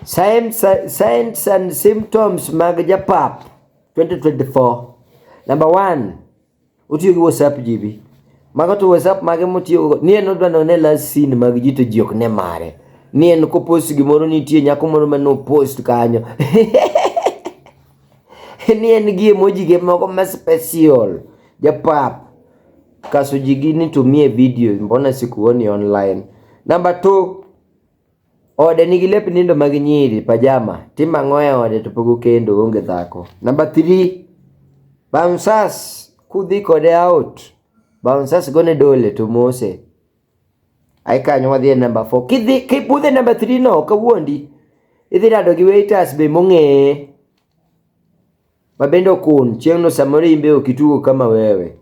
Signs, signs and symptoms mag japap 2024 number one otiyo gi whatsapp jibi mago to whatsapp mage motiyogo ni en odwa none last scene mag ji to ji ok ne mare ni en kopost gimoro nitie nyako moro ma nopost kanyo ni en gi emoji ge moko ma special japap Kasujigi nitumie video, mbona sikuoni online? Number two, ode nigi lep nindo mag nyiri pajama, tim ang'o e ode to pok okendo onge dhako. Number three, bouncers kudhi kode out, bouncers gone dole to mose. Ai kanyo wadhi e number four. Kidhi kibudhe number three no kawuondi. Idhi rado gi waiters be mong'eye. Mabende okun, chieng'no samoro imbe ok itugo kama wewe.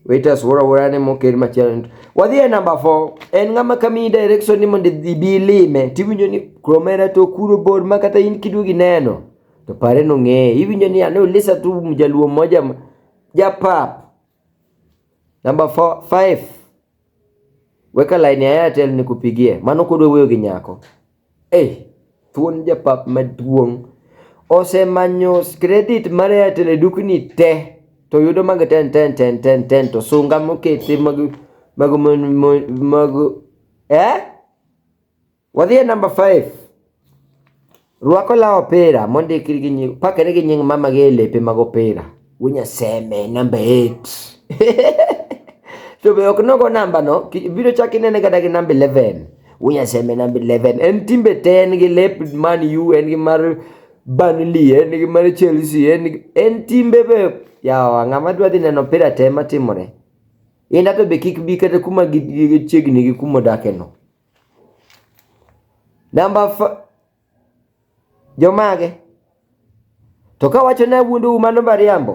Waiters wora wora ne moker machielo. Wadhi e namba 4. En ng'ama kamiyi direction ni mondo idhi bi ilime. Tiwinjo ni kromera to kuro bor ma kata in kiduogi neno. To pare nong'eye. Iwinjo ni ane ulisa tu mjaluo moja japap. Number four, five. Weka line ya Airtel nikupigie. Mano kodwa wuoyo gi nyako. Eh, thuon japap maduong'. Osemanyo credit mar Airtel e dukni te to yudo mag 10 10 10 10 10 to sunga mokete mag mag mag, mag eh Wadhi e namba 5. Rwako law opira mondikri gi nying pakre gi nying mama gi e lepe mag opira. Winya seme namba 8. to be ok nogo namba no, ki- biro chak inene kata gi namba 11. Winya seme namba 11. En timbe te en gi lep Man U, en gi mar Burnley, en gi mar Chelsea, en gi- en timbe be yawa ng'ama dwa dhi neno opira te matimore. Inda to be kik bi kata kuma gi- gi- chiegni gi kuma odake no. Namba f- jomage? To ka wacho ni awuondou mano mariambo.